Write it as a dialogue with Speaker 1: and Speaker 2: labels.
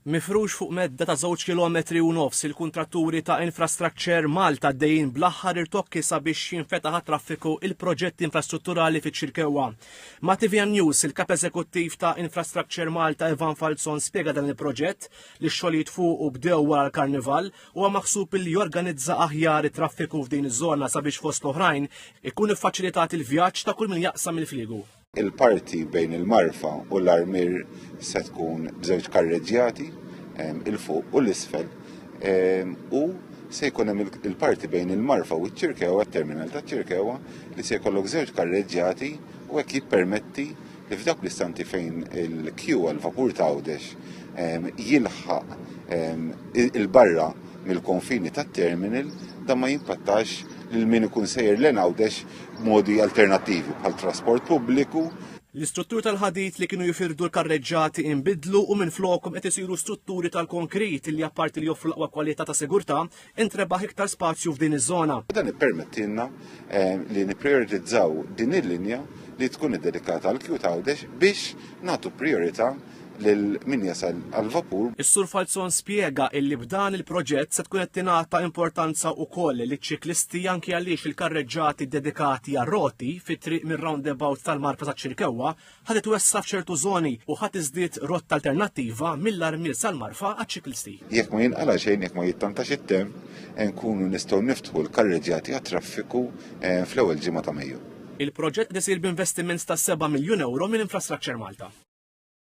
Speaker 1: Mifrux fuq medda ta' żewġ kilometri u nofs, il-kuntratturi ta' Infrastructure Malta għaddejjin bl-aħħar irtokki sabiex jinfetaħ għat-traffiku il-proġett infrastrutturali fiċ-Ċirkewwa. Ma' tvm News, il-Kap Eżekuttiv ta' Infrastructure Malta Evan Falzon spjega dan il-proġett, li x-xogħlijiet fuqu bdew wara l-Karnival, huwa maħsub li jorganizza aħjar it-traffiku f'din iż-żona sabiex fost l-oħrajn ikun iffaċilitat il-vjaġġ ta' kull min jaqsam il-Fliegu. Il-parti
Speaker 2: bejn il-marfa u l-armier se tkun b'żewġ karreġġjati il-fuq u l-isfel u se jkun hemm il-parti bejn il-marfa u ċ-ċirkewa, terminal ta' ċirkewa, li se jkollok żewġ karreġġjati u hekk jippermetti li f'dawk l-istanti fejn il-kju għal-vapur ta' Għawdex jilħaq il-barra mill-konfini tat-terminal dan ma jimpattax lil min ikun sejjer lejn Għawdex b'modi alternattivi bħal trasport pubbliku, L-istrutturi
Speaker 1: tal-ħadid li kienu jifirdu l-karreġġati inbidlu u minflokhom qed isiru strutturi tal-konkrit li apparti li joffru l-aqwa kwalità ta' sigurtà, intrebaħ iktar spazju f'din iż-żona. Dan ippermettilna
Speaker 2: eh, li nipprijoritizzaw din il-linja li tkun iddedikata għal Cute Għawdex biex nagħtu prijorità lil min jasal għall-vapur. Is-Sur Falzon
Speaker 1: spjega illi b'dan il-proġett se tkun qed tingħata importanza wkoll liċ-ċiklisti anki għaliex il-karreġġati ddedikati għar-roti fit-triq mir-roundabout tal-Marka taċ-Ċirkewwa ħa titwessa' f'ċertu żoni u ħa tiżdied rotta alternattiva mill-Armiel sal-Marfa għaċ-ċiklisti. Jekk ma jinqala' xejn,
Speaker 2: jekk ma jittantax it-temp, nkunu nistgħu niftħu l-karreġġati għat-traffiku eh, fl-ewwel
Speaker 1: ġimgħa ta' Mejju. Il-proġett qed isir b'investiment ta'
Speaker 2: 7
Speaker 1: miljun ewro minn Infrastructure Malta.